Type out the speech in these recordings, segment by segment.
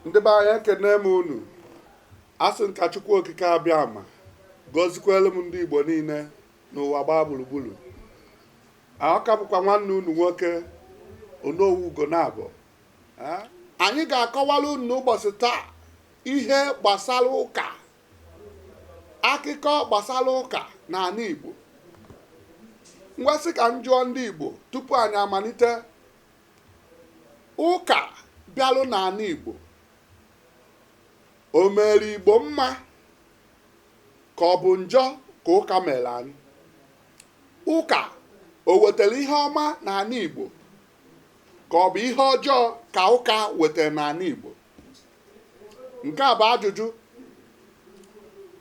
ndị be anyị ekene m unu asị m ka Chukwu Okike Abịama gọzikwelu m ndị Igbo niile n'ụwa gbaa gburugburu ọ ka bụkwa nwanne unu nwoke Onowu Ugonabọ anyị ga-akọwara unu n'ụbọchị taa ihe gbasara ụka akụkọ gbasara ụka n'ala Igbo m wee sị ka m jụọ ndị Igbo tupu anyị amalite Ụka bịalụ n'ala Igbo, o mere Igbo mma ka ọ bụ njọ ka ụka mere anyị? Ụka o wetara ihe ọma n'ala Igbo ka ọ bụ ihe ọjọọ ka ụka wetara n'ala Igbo? Nke a bụ ajụjụ.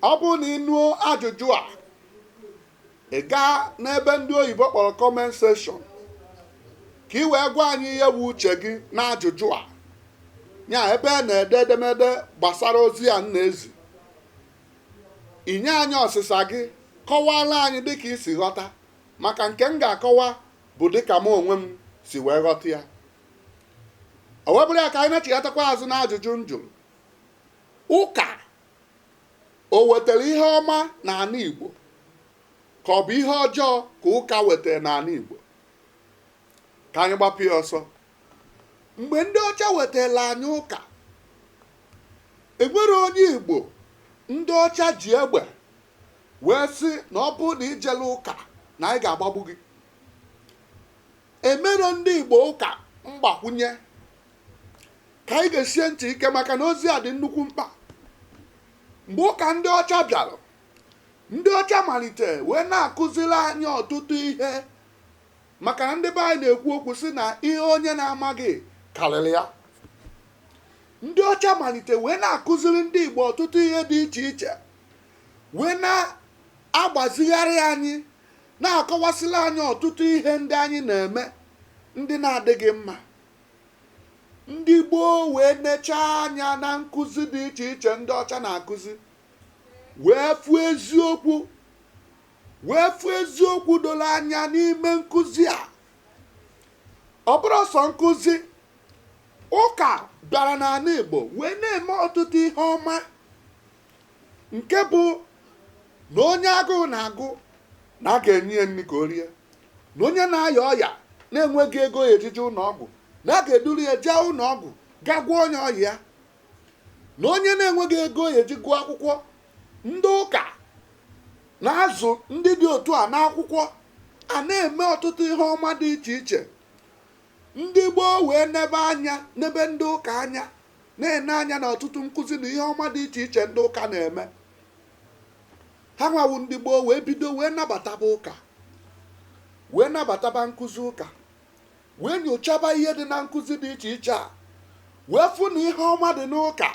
Ọ bụrụ na ị nụọ ajụjụ a, ị gaa n'ebe ndị oyibo kpọrọ comment section ka ị wee gwa anyị ihe bụ uche gị n'ajụjụ a ya ebe a na-ede edemede gbasara ozi a m na-ezi ị nye anyị ọsịsa gị kọwara anyị dịka i si ghọta maka nke m ga-akọwa bụ dịka m onwe m si wee ghọta ya o wee bụrụ ya ka anyị na-echighatakwa azụ n'ajụjụ m jụrụ ụka O wetara ihe ọma n'ala Igbo ka ọ bụ ihe ọjọọ ka ụka wetara n'ala Igbo? Ka anyị gbapụ ya ọsọ. Mgbe ndị ọcha wetara anyị ụka, enwere onye Igbo ndị ọcha ji egbe wee sị na ọ bụrụ na i jerọ ụka na anyị ga-agbagbu gị. Emerọ ndị Igbo ụka mgbakwunye ka anyị gesie ntị ike maka na ozi a dị nnukwu mkpa mgbe ụka ndị ọcha bịara ndị ọcha malite wee na-akụziri anyị ọtụtụ ihe maka na ndị be anyị na-ekwu okwu sị na ihe onye na-amaghị karịrị ya ndị ọcha malite wee na-akụziri ndị igbo ọtụtụ ihe dị iche iche wee na-agbazigharị anyị na-akọwasịrị anyị ọtụtụ ihe ndị anyị na-eme ndị na-adịghị mma ndị Igbo wee nechaa anya na nkụzi dị iche iche ndị ọcha na-akụzi wee fụ eziokwu wee fụ eziokwu doro anya n'ime nkụzi a ọ bụrọ sọ nkụzi ụka bịara n'ala Igbo wee na-eme ọtụtụ ihe ọma nke bụ na onye agụụ na-agụ na a ga-enye ya nri ka o rie na onye na-aya ọya na-enweghị ego ọ ya-eji je ụlọ ọgwụ na a ga-eduru ya jee ụlọ ọgwụ ga gwọọ onye ọya ya na onye na-enweghị ego ọ ya-eji gụọ akwụkwọ ndị ụka na-azụ ndị dị otu a n'akwụkwọ a na-eme ọtụtụ ihe ọma dị iche iche ndị Igbo wee nebe anya nebe ndị ụka anya na-ene anya na ọtụtụ nkụzi na ihe ọma dị iche iche ndị ụka na-eme ha nwa wụ ndị gboo wee bido wee nabataba ụka wee nabataba nkụzi ụka wee nyochaba ihe dị na nkụzi dị iche iche a wee fụ na ihe ọma dị n'ụka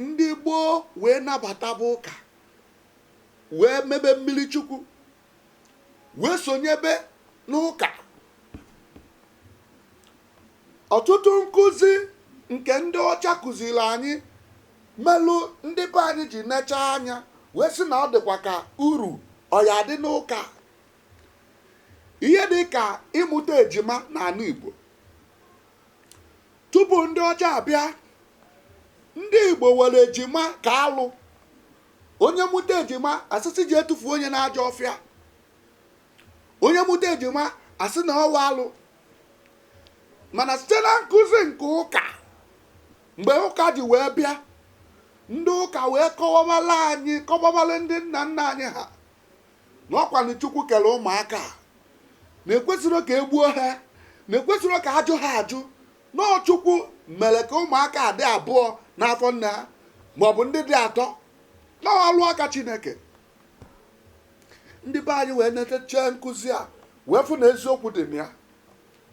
ndị gboo wee nabataba ụka wee mebe mmili chukwu wee sonyebe n'ụka ọtụtụ nkụzi nke ndị ọcha kụziri anyị melụ ndị be anyị ji nechaa anya wee sị na ọ dịkwa ka uru ọ ya-adị n'ụka ihe dị ka ịmụta ejima n'anị Igbo tupu ndị ọcha abịa ndị Igbo were ejima ka alụ onye mụta ejima a sị sị jee tufuo onye n'ajọ ọfịa onye mụta ejima a sị na ọ wụ alụ mana site na nkụzi nke ụka mgbe ụka ji wee bịa ndị ụka wee kọwabala anyị kọwabala ndị nna nna anyị ha na ọ kwanụ chukwu kere ụmụaka a na ekwesirọ ka e gbuo ha na ekwesirọ ka a jụ ha ajụ na ọ chukwu mere ka ụmụaka a dị abụọ n'afọ nne ha maọbụ ndị dị atọ na ọ wụ ọlụ aka chineke ndị be anyị wee netechee nkụzi a wee fụ na eziokwu dị na ya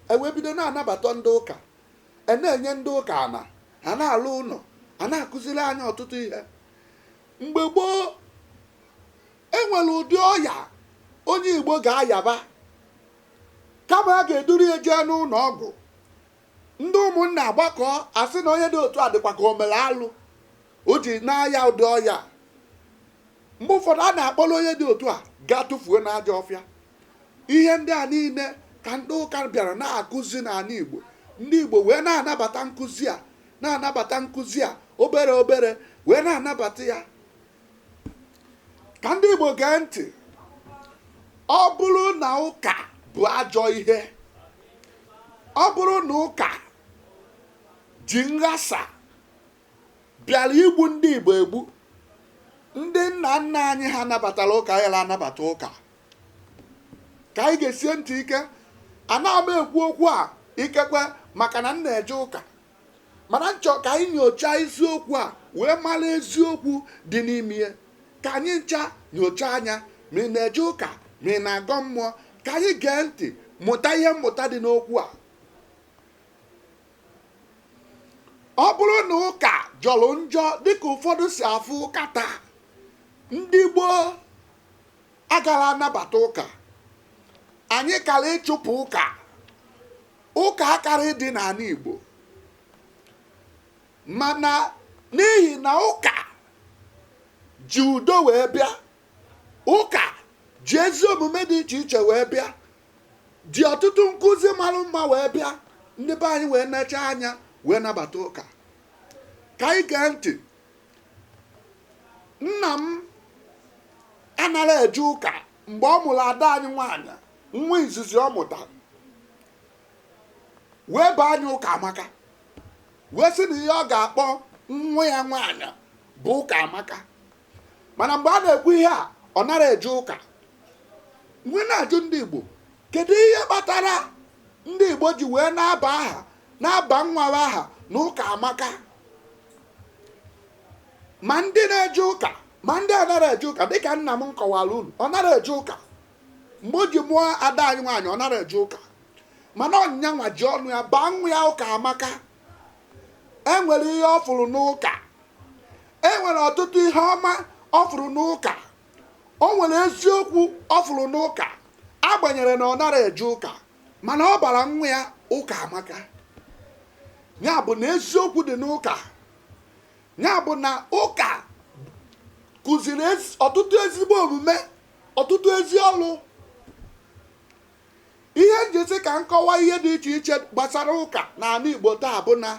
e wee bido na-anabata ndị ụka e na-enye ndị ụka ana a na-alụ ụnọ a na-akụziri anyị ọtụtụ ihe mgbe gboo e nwere ụdị ọya onye igbo ga-ayaba kama a ga-eduru ya jee n'ụnọ ọgwụ ndị ụmụnna agbakọ asị na onye dị otu a dịkwa ka o mere alụ o ji na-aya ụdị ọya mgbe ụfọdụ a na-akpọrọ onye dị otu a gaa tụfuo n'ajọ ọfịa ihe ndị a niile ka ndị ụka bịara na-akụzi n'anị igbo ndị igbo wee na-anabata nkụzi a na-anabata nkụzi a obere obere wee na-anabata ya ka ndị igbo gee ntị ọ bụrụ na ụka bụ ajọ ihe ọ bụrụ na ụka ji nghasa bịara igbu ndị igbo egbu ndị nna nna anyị ha nabatara ụka ayala anabata ụka ka anyị gesie ntị ike anaghị m ekwu okwu a ikekwe maka na m na-eje ụka mana m chọ ka anyị nyochaa isiokwu a wee mara eziokwu dị n'ime ya ka anyị ncha nyocha anya ma ị na-eje ụka ma ị na-agọ mmụọ ka anyị gee ntị mụta ihe mmụta dị n'okwu a ọ bụrụ na ụka jọrọ njọ dịka ụfọdụ si afụ ụka taa ndị gboo agara anabata ụka anyị kara ịchụpụ ụka ụka akarị dị n'ala Igbo mana n'ihi na ụka ji udo wee bịa ụka ji ezi omume dị iche iche wee bịa ji ọtụtụ nkụzi mara mma wee bịa ndị be anyị wee necha anya wee nabata ụka ka anyị gee ntị nna m anara eje ụka mgbe ọ mụrụ ada anyị nwaanyị nwa izizi ọ mụtara wee baa nya ụka amaka wee sị na ihe ọ ga-akpọ nwa ya nwaanyị bụ ụka amaka mana mgbe a na-ekwu ihe a ọ nara eje ụka m wee na-ajụ ndị igbo kedu ihe kpatara ndị igbo ji wee na-aba aha na-aba nwa ha aha na ụka amaka ma ndị na-eje ụka ma ndị anara eje ụka dịka nna m m kọwara unu ọ nara eje ụka mgbe o ji mụọ ada anyị nwaanyị ọ nara eje ụka mana ọ nya nwa ji ọnụ ya baa nwa ya ụka amaka e nwere ihe ọ fụrụ n'ụka e nwere ọtụtụ ihe ọma ọ fụrụ n'ụka o nwere eziokwu ọ fụrụ n'ụka agbanyere na ọ nara eje ụka mana ọ bara nwa ya ụka amaka ya bụ na eziokwu dị n'ụka ya bụ na ụka kụziri ezi- ọtụtụ ezigbo omume ọtụtụ ezi ọrụ ihe m ji sị ka m kọwaa ihe dị iche iche gbasara ụka n'ala Igbo taa bụ na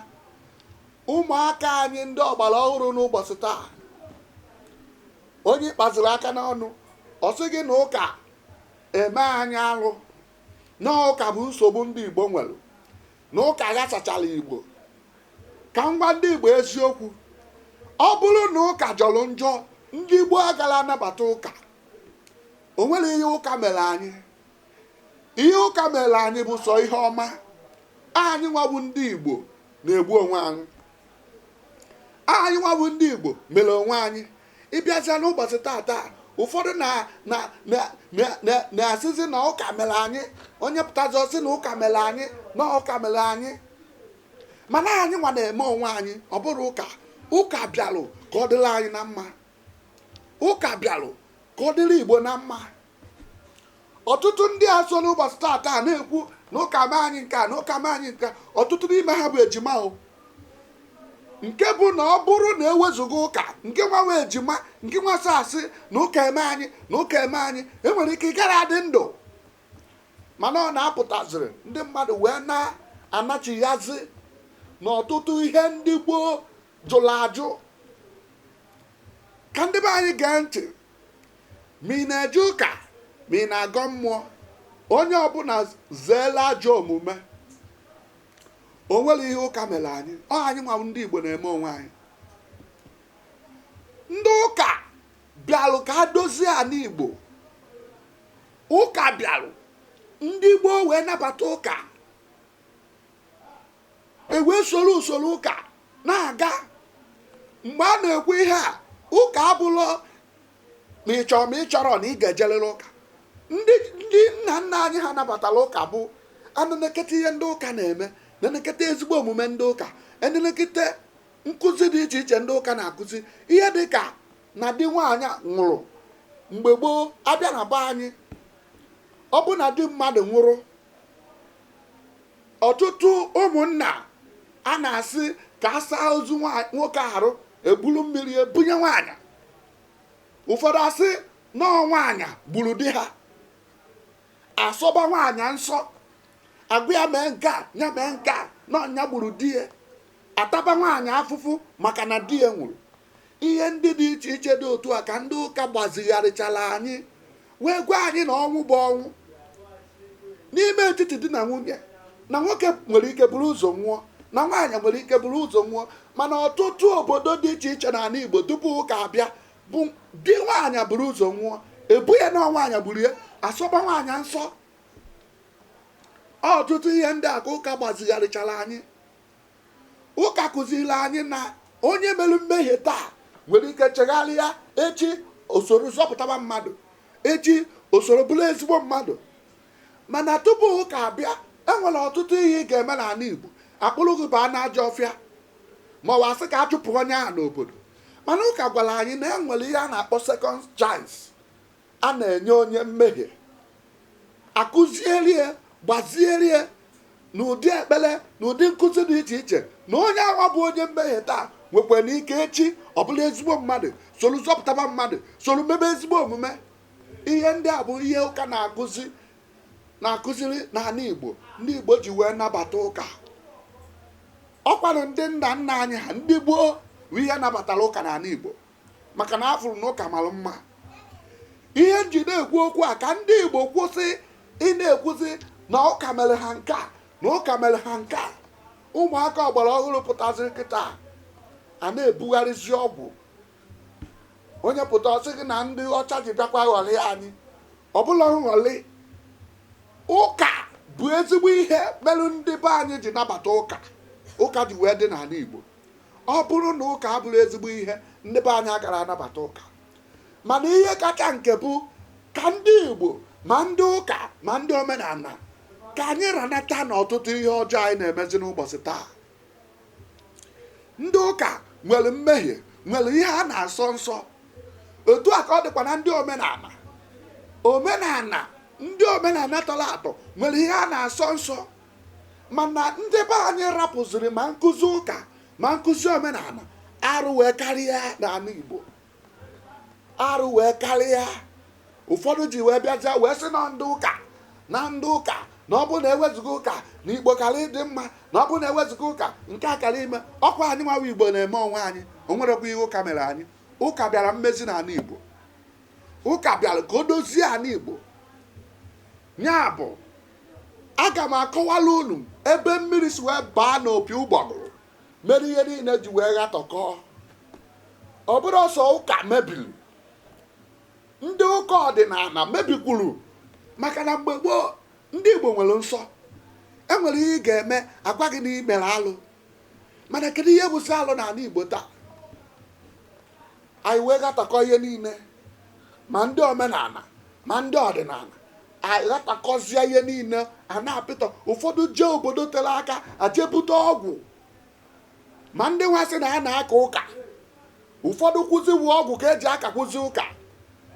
ụmụaka anyị ndị ọgbara ọhụrụ n'ụbọchị taa onye kpaziri aka n'ọnụ ọ sị gị na ụka eme anyị alụ na ụka bụ nsogbu ndị Igbo nwere na ụka ghasachara Igbo ka m gwa ndị Igbo eziokwu ọ bụrụ na ụka jọrọ njọ ndị Igbo agara anabata ụka o nwere ihe ụka mere anyị ihe ụka mere anyị bụ sọ ihe ọma anyị nwa bụ ndị Igbo na-egbu onwe anyị anyị nwa bụ ndị Igbo mere onwe anyị ị bịazịa n'ụbọchị tata ụfọdụ na-asịzi na ụka mere anyị onye pụtazi ọ sị na ụka mere anyị na ụka mere anyị mana anyị nwa na-eme onwe anyị ọ bụra ụka ụka bịalụ ka ọ dịrị anyị na mma ụka bịalụ ka ọ dịrị igbo na mma ọtụtụ ndị a so n'ụbọchị tata na-ekwu na ụka mee anyị nke a na ụka mee anyị nke a, ọtụtụ n'ime ha bụ ejima o nke bụ na ọ bụrụ na e wezuga ụka nke nwa wụ ejima nke nwa sị asị na ụka eme anyị na ụka eme anyị e nwere ike ị gara adị ndụ mana ọ na-apụtaziri ndị mmadụ wee na-anachighazi n'ọtụtụ ihe ndị gboo jụrụ ajụ ka ndị be anyị gee ntị ma ị na-eje ụka ma ị na-agọ mmụọ onye ọbụna zeelụ ajọ omume o nwerọ ihe ụka mere anyị ọ anyị nwa ndị igbo na-eme onwe anyị ndị ụka bịalụ ka a dozie anị igbo ụka bịalụ ndị gboo wee nabata ụka ewee soro usoro ụka na-aga mgbe a na-ekwu ihe a ụka abụlọ ma ị chọrọ ma ị chọrọ na ị ga-ejerịrị ụka ndị nna nna anyị ha nabatara ụka bụ enenekete ihe ndị ụka na-eme nenekete ezigbo omume ndị ụka enenekete nkụzi dị iche iche ndị ụka na-akụzi ihe dị ka na di nwaanyị nwụrụ mgbe gboo abịa na be anyị ọ bụ na di mmadụ nwụrụ ọtụtụ ụmụnna a na-asị ka a saa ozu nwoke arụ eburu mmiri ya bunye nwaanyị ụfọdụ asị na ọ nwaanyị gburu di ha asọba nwaanyị nsọ agwa ya mee nke a ya mee nke a na ọ ya gburu di ya ataba nwaanyị afụfụ maka na di ya nwụrụ Ihe ndị dị iche iche dị otu a ka ndị ụka gbazigharịchara anyị wee gwa anyị na ọnwụ bụ ọnwụ n'ime etiti di na nwunye na nwoke nwere ike buru ụzọ nwụọ na nwaanyị nwere ike buru ụzọ nwụọ mana ọtụtụ obodo dị iche iche n'anị Igbo tupu ụka abịa bụ di nwaanyị buru ụzọ nwụọ ebo ya na ọ nwaanyị gburu ya asọba nwaanyị nsọ ọtụtụ ihe ndị a ka ụka gbazigharịchara anyị Ụka kụziri anyị na onye mere mmehie taa nwere ike chegharịa echi o soro zọpụtaba mmadụ echi o soro bụrụ ezigbo mmadụ mana tupu ụka abịa enwere ọtụtụ ihe ị ga-eme n'anị Igbo akpụrụ gị baa n'ajọ ọfịa ma ọ bụ asị ka a chụpụ onye ahụ n'obodo mana ụka gwara anyị na enwere ihe a na-akpọ second chance a na-enye onye mmehie akụziere ya gbaziere ya na ụdị ekpere na ụdị nkụzi dị iche iche na onye ahụ bụ onye mmehie taa nwekwara ike echi ọ bụrụ ezigbo mmadụ soro zọpụtaba mmadụ soro mebe ezigbo omume ihe ndị a bụ ihe ụka na-akụziri n'anị igbo ndị igbo ji wee nabata ụka ọkwanụ ndị nna nna anyị ha ndị gboo bụ ihe nabatara ụka n'anị igbo maka na afụrụ na ụka mara mma ihe m ji na-ekwu okwu a ka ndị igbo kwụsị ị na-ekwuzi na ụka mere ha nke a na ụka mere ha nke a ụmụaka ọgbara ọhụrụ pụtaziri kịtaa na-ebugharịzi ọgwụ onye pụta ọ sị gị na ndị ọcha ji bịakwa ghọrie anyị ọ bụrọ nghọri ụka bụ ezigbo ihe mere ndị be anyị ji nabata ụka ụka ji wee dị n'anị igbo ọ bụrụ na ụka abụrọ ezigbo ihe ndị be anyị agara anabata ụka mana ihe kacha nke bụ ka ndị igbo ma ndị ụka ma ndị omenala ka anyị ranata n'ọtụtụ ihe ọjọọ anyị na-emezi n'ụbọchị taa ndị ụka nwere mmehie nwere ihe a na-asọ nsọ otu a ka ọ dịkwa na ndị omenala omenala ndị omenala tọrọ atọ nwere ihe a na-asọ nsọ mana ndị be anyị rapụziri ma nkụzi ụka ma nkụzi omenala arụ wee karịa n'ala igbo arụ wee karịa ụfọdụ ji wee bịaja wee sị na ndị ụka na ndị ụka na ọ bụrụ na ewezuga ụka na igbo kara ịdị mma na ọ bụrụ na ewezuga ụka nke a kara ime ọkwa anyị nwa wụ igbo na-eme onwe anyị o nwerekwa ihe ụka mere anyị ụka bịara mmezi n'ala igbo ụka bịara ka o dozie ala igbo Ya bụ, aga m akọwara unu ebe mmiri si wee baa n'opi ụgbọgụrụ mere ihe niile ji wee ghatọkọọ ọ bụrọ sọọ ụka mebiri ndị ụka ọdịnala mebikwuru maka na mgbe gboo ndị igbo nwere nsọ enwere ihe ị ga-eme agwa gị na i mere alụ mana kedu ihe bụzi alụ n'ala igbo taa anyị wee ghatakọ ihe niile ma ndị omenala ma ndị ọdịnala aghatakọzie ihe niile a n'apịtọ ụfọdụ jee obodo tere aka ajebute ọgwụ ma ndị nwa sị na ha na-aka ụka ụfọdụ kwuzi wụ ọgwụ ka eji akakwuzi ụka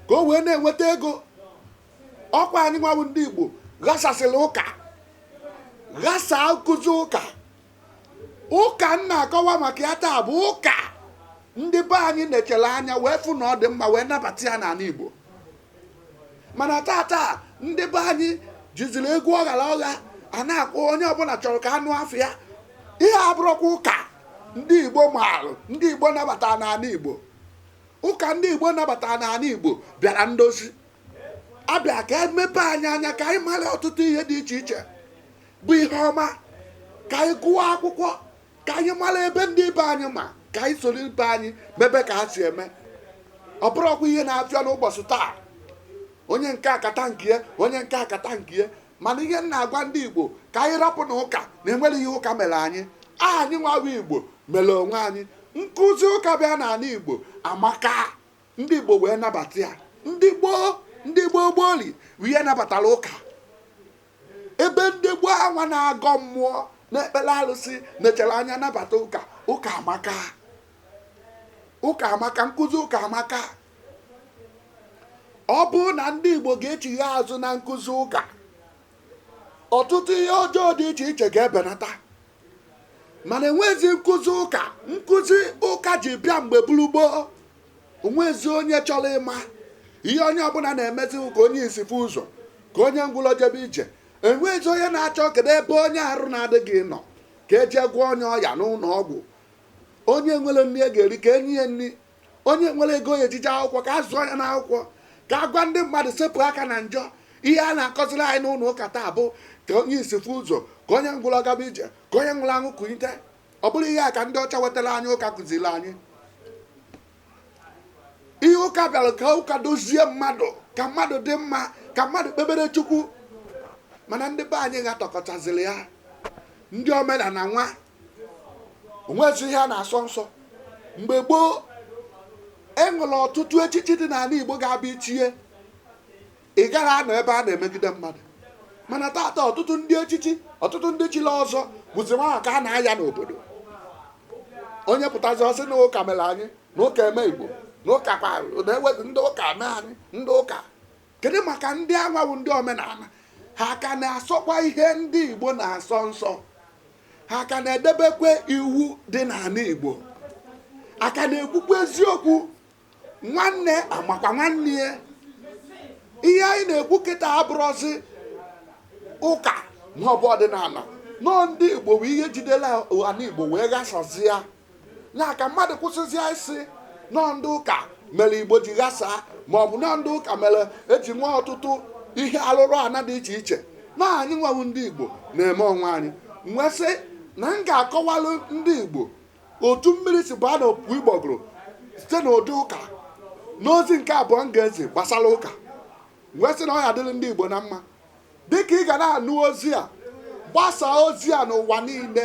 ka o wee na-enweta ego ọkwa anyị nwa wụ ndị igbo ghasasịrị ụka ghasaa nkụzi ụka ụka m na-akọwa maka ya taa bụ ụka ndị be anyị nechara anya wee fụ na ọ dị mma wee nabata ya n'ala Igbo mana tata ndị be anyị jiziri egwu ọghara ọgha a na-akpọ onye ọbụla chọrọ ka a nụ afa ya ihe a abụrọkwa ụka ndị Igbo maalụ ndị Igbo nabata n'ala Igbo ụka ndị Igbo nabata n'ala Igbo bịara ndozi abịa ka emepe anyị anya ka anyị mara ọtụtụ ihe dị iche iche bụ ihe ọma ka anyị gụọ akwụkwọ ka anyị mara ebe ndị ibe anyị ma ka anyị soro ibe anyị mebe ka ha si eme ọ bụrọkwa ihe na-afịa n'ụbọchị taa onye nke a akata nke ya onye nke a akata nke ya mana ihe m na-agwa ndị igbo ka anyị rapụ na ụka na enwere ihe ụka mere anyị anyị nwa wụ igbo mere onwe anyị nkụzi ụka bịa n'ala igbo amaka ndị igbo wee nabata ya ndị gboo gboo ri wee nabatara ụka ebe ndị gboo anwa na-agọ mmụọ na-ekpere arụsị nechara anya nabata ụka ụka amaka ụka amaka nkụzi ụka amaka ọ bụrụ na ndị igbo ga-echigha azụ na nkụzi ụka ọtụtụ ihe ọjọọ dị iche iche ga-ebenata mana enwezi nkụzi ụka nkụzi ụka ji bịa mgbe buru gboo onwezi onye chọrọ ịma ihe onye ọbụla na-emezi ka onye isi fụ ụzọ ka onye ngwụlọ jebe ije enwezi onye na-achọ kedu ebe onye arụ na-adịghị nọ ka e je gwọọ onye ọya n'ụlọ ọgwụ onye nwere nri e ga-eri ka e nye ya nri onye nwere ego ọ ya-eji je akwụkwọ ka a zụọ ya n'akwụkwọ ka a gwa ndị mmadụ sepụ aka na njọ ihe a na-akọziri anyị n'ụlọ ụka taa bụ ka onye isi fụ ụzọ ka onye ngwụrọ gaba ije ka onye nwụrụ anwụ kunite ọ bụrọ ihe a ka ndị ọcha wetara anyị ụka kụziri anyị ihe ụka bịara ka ụka dozie mmadụ ka mmadụ dị mma ka mmadụ kpebere chukwu mana ndị be anyị ghatọkọtaziri ya ndị omenala nwa o nwezi ihe a na-asọ nsọ mgbe gboo e nwere ọtụtụ echichi dị n'ala igbo ga-abụ i chie ị gaghị anọ ebe a na-emegide mmadụ mana taata ọtụtụ ndị echichi ọtụtụ ndị chili ọzọ bụzi nwa ka a na-aya n'obodo onye pụtazi ọ sị na ụka mere anyị na ụka eme igbo na ụka kwa na-ewezi ndị ụka mee anyị ndị ụka kedu maka ndị anwa wụ ndị omenala ha ka na-asọkwa ihe ndị igbo na-asọ nsọ ha ka na-edebekwa iwu dị n'ala igbo a ka na-ekwukwa eziokwu nwanne amakwa nwanne ya ihe anyị na-ekwu kịta abụrọzi ụka maọbụ ọdịnala na ọ ndị igbo bụ ihe jidela ala igbo wee ghasazi ya ya ka mmadụ kwụsịzịa ịsị na ọ ndị ụka mere igbo ji ghasaa ma ọ bụ na ọ ndị ụka mere e ji nwee ọtụtụ ihe alụrụ ana dị iche iche na anyị nwa wụ ndị igbo na-eme onwe anyị m wee sị na m ga-akọwalụ ndị igbo otu mmiri si baa na opi ụgbọgụrụ site na ụdị ụka n'ozi nke abụọ m ga-ezi gbasara ụka m wee sị na ọ ya-adịrị ndị igbo na mma dịka ị ga na-anụ ozi a gbasaa ozi a n'ụwa niile